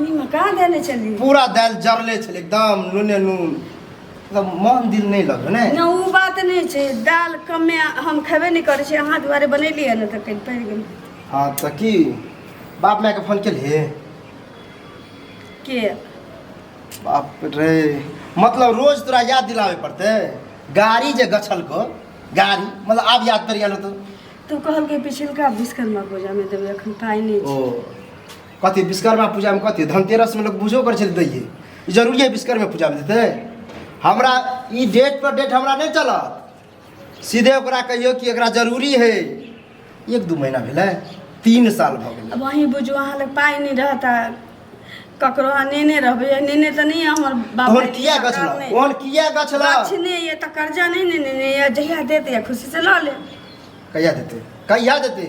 नीमक कहाँ देने छली पूरा दालि जरले छलै एकदम नूने नून एकदम मन दिल नहि लगल ने ना ओ बात नहि छै दाल कमे हम खेबे नहि करै छी अहाँ दुआरे बनेलियै ने तऽ कनि पड़ि गेल हँ तऽ की बाप मायके फोन केलियै के बाप रे मतलब रोज तोरा याद दिलाबे पड़तै गाड़ी जे गछल को गाड़ी मतलब आब याद पड़ि गेल होतौ तू कहलकै पिछिलका विश्वकर्मा पूजामे देबै एखन पाइ नहि ओ छै कथी विश्वकर्मा पूजामे कथी धनतेरसमे लोक पूजो करै छै तऽ दैयै ई जरूरी है विश्वकर्मा पूजामे देतै हमरा ई डेट पर डेट हमरा नहि चलत सीधे ओकरा कहियौ कि एकरा जरूरी है एक दू महीना भेलै तीन साल भऽ गेलै अब अहीं बुझू अहाँ लग पाइ नहि रहत आ ककरो अहाँ नेने रहबै आ नेने तऽ नहि यऽ हमर बाप ओहन दादी किया गछला सरकार नहि। ओहन किया गछला गाछ नहि यऽ तऽ कर्जा नहि ने नेने यऽ जहिया देत यऽ खुशी से लऽ लेब कहिया देतै कहिया देतै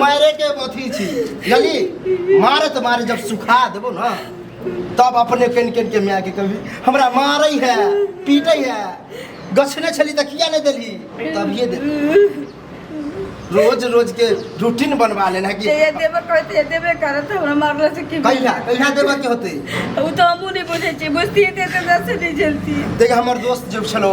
मारे के अथी छी यानी मारत मारे जब सुखा देबो ना तब अपने कन कन के माय के कभी हमरा मारै है पीटै है गछने छली तऽ किया नहि देली तभिए दे रोज रोज के रूटीन बनवा लेना कि जे देबे करत जे देबे करत हमरा मारला से की कहिया कहिया देबऽ के होतै उ तो हमू नहीं बुझे छी बुझती है तो दस नहीं जलती देख हमर दोस्त जब छलो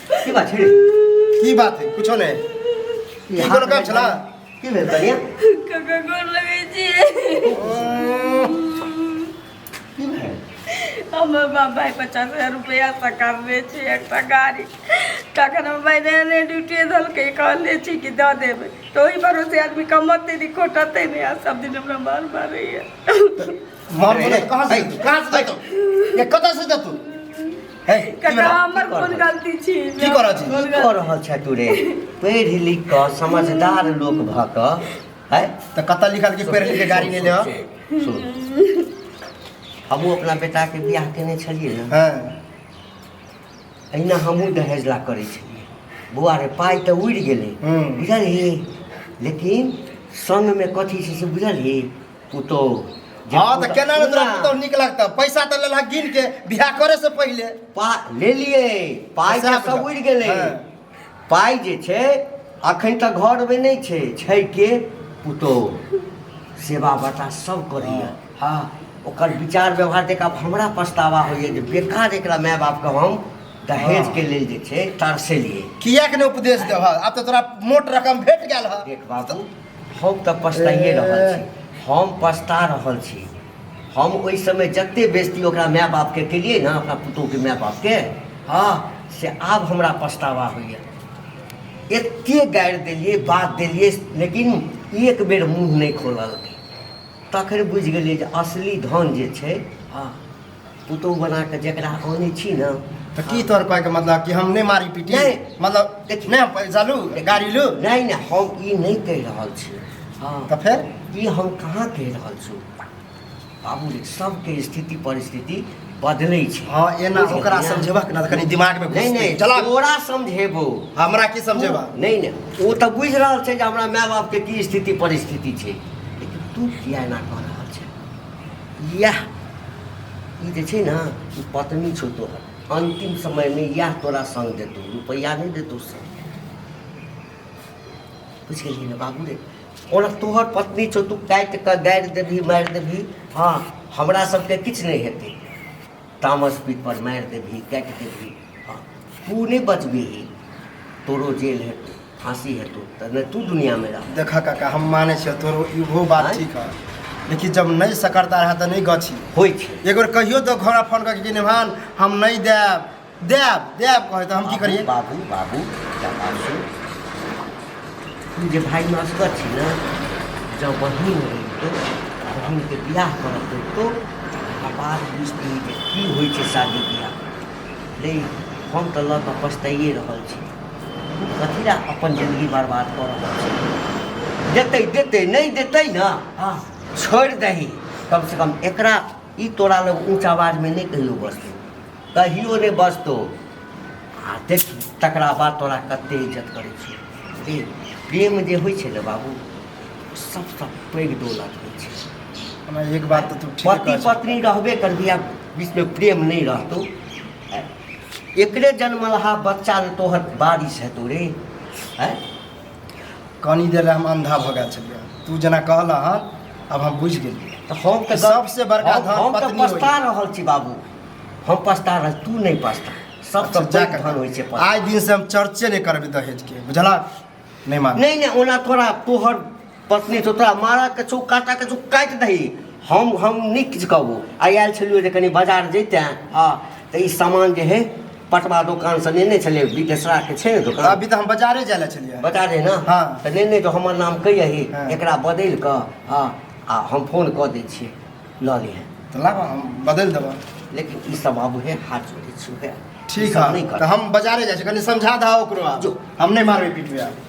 की बात छै की बात है कुछो नै की कोनो काम छला की भेल कनिया कका गोर लगै छी की भेल हमर बाप भाई पचास हजार रुपया सकारने छै एकटा गाड़ी तखन हम भाई नया नया ड्यूटी देलकै कहले छी कि दऽ देबै तऽ ओहि भरोसे आदमी कमतै नहि खोटतै नहि आ सब दिन हमरा मार मारैया मार रे, बोले रे, कहाँ से है, कहाँ से देतो ये कतऽ से देतो है की ककरा करऽ? हमर की कोन करऽ? गलती छी की करऽ छी? कोन की गलती- कऽ रहल छै तू रे पढ़ि लिख कऽ समझदार लोक भऽ कऽ है तऽ कतऽ लिखल कि पेड़ के गाड़ी ले ले हो सुन हमहूँ अपना बेटाके बियाह केने छलियै ने हाँ अहिना हमहूँ दहेज ला करै छलियै बौआ रे पाइ तऽ उड़ि गेलै हूँ। बुझलही लेकिन संगमे कथी छै से बुझलही पुतोह जे हाँ तो पुतोह- केना ने तोरा सुन ना, पुतोह नीक लगता पैसा तो लेला गिन के बियाह करे से पहले पा ले लिए पाइ पैसा तऽ सब बुझल। उड़ि गेलै हाँ। पाइ जे छै अखन तक घरमे नहि छै छै के पुतोह सेवा बता सब करैए हाँ ओकर विचार व्यवहार देख आब हमरा पछतावा होइए जे बेकार एकरा माय बापके हम दहेजके लेल जे छै तरसेलिए किया के ने उपदेश देबह आब तो तोरा मोट रकम भेट गेल है देख बाबू हम तऽ पछताइए रहल छी हम पछता रहल छी हम ओहि समय जते बेजती ओकरा माय बापके केलियै ने अपना पुतोहके माय बापके हँ से आब हमरा पछतावा होइए एते गारि देलियै बात देलियै लेकिन एक बेर मुँह नहि खोललकै तखन बुझि गेलियै जे असली धन जे छै हँ पुतहु बना कऽ जकरा आनै छी ने तऽ की तोहर कहैके मतलब कि हम नहि मारी पीटी नहि। मतलब देखी। नहि हम पैसा लू गाड़ी लू नहि नहि हम ई नहि कहि रहल छी हँ तऽ फेर ई हम कहाँ कहि रहल छी बाबू रे सबके स्थिति परिस्थिति बदलै छै हँ एना बुझलियै ओकरा ने? समझेबक ने तऽ कनि दिमागमे घुसतै। नहीं नहीं चला तोरा समझेबो हमरा की समझेबा नहीं नहीं वो तो बुझ रहल छै जे हमरा माय बाप के की स्थिति परिस्थिति छै लेकिन तू किया एना कर इएह ई जे छै ने ई पत्नी छौ तोहर अन्तिम समयमे इएह तोरा सङ्ग देतौ रुपैआ नहि देतौ सङ्ग बुझि गेलियै ने बाबू रे ओना तोहर पत्नी छौ तू काटि कऽ गाड़ि देबही मारि देबही हँ हमरा सबके किछु नहि हेतै तामस पीपर मारि देबही काटि देबही हँ तू नहि बचबिही तोरो जेल हेतौ फांसी है तो तब नहीं तू दुनिया में रह देखा काका हम माने छे तोरो इहो बात आँय? ठीक है लेकिन जब नहीं सकरता रहा तो नहीं गछी होई छे एक बेर कहियो तो घोड़ा फोन करके कि निभान हम नहीं देब देब देब कहे तो हम की करिए बाबू बाबू क्या बात है तू जे भाई में असगर छी ना जब बहिन रही तो बहिन के बियाह करत रही तो ओकरा बाद बुझती जे की होइ छै शादी बियाह ले हम तऽ लऽ कऽ पछताइए रहल छी कथी लए अपन जिन्दगी बर्बाद कऽ रहल छै देतै देतै नहि देतै ने हँ छोड़ि दही कमसँ कम एकरा ई तोरा लग ऊँच आवाजमे नहि कहियो बसतौ कहियो नहि बसतौ आ देख तकरा बाद तोरा कतेक इज्जत करै छै प्रेम जे होइ छै ने बाबू सभसँ पैघ दौलत होइ छै एक बात तऽ पति पत्नी रहबे करबी आ बीचमे प्रेम नहि रहतौ एकरे जन्मलहा बच्चा जे तोहर बारिश हेतौ रे आँय कनी देर लए हम अंधा भऽ गेल छलियै तू जेना कहला हँ अब हम बुझि गेलियै तऽ हम तऽ सबसे बड़का हम- धन हम तऽ पत्नी पछता होइए। रहल छी बाबू हम पछता रहल तू नहि पछता सबसँ अच्छा, जा बड़ कऽ धन होइ छै पछता आइ दिन से हम चर्चे नहि करबै दहेज के बुझला नहीं मार नहीं नहीं ओना थोड़ा तोहर पत्नी तो तोरा मारा के छौ काटा के छौ काटि दही हम हम नहीं किछु कहबो आइ आयल छलियो जे कनि बाजार जैते हाँ तऽ ई सामान जे है पटवा दोकान से नेने छलै बिदेसरा के छै ने दोकान अभी तो हम बाजारे जाए ला चलिए बता दे ना हाँ। तऽ नेने तो हमर नाम कहियही हाँ। एकरा बदलि कऽ हाँ आ हम फोन कऽ दै छियै लऽ लिहे तऽ लाबऽ हम बदलि देबऽ लेकिन ई सब आब उहे हाथ जोड़ै छी उहे ठीक है तऽ हम बाजारे जाइ छी कनि समझा दहा ओकरो आब। जो। हम नहि मारबै पीटबै आब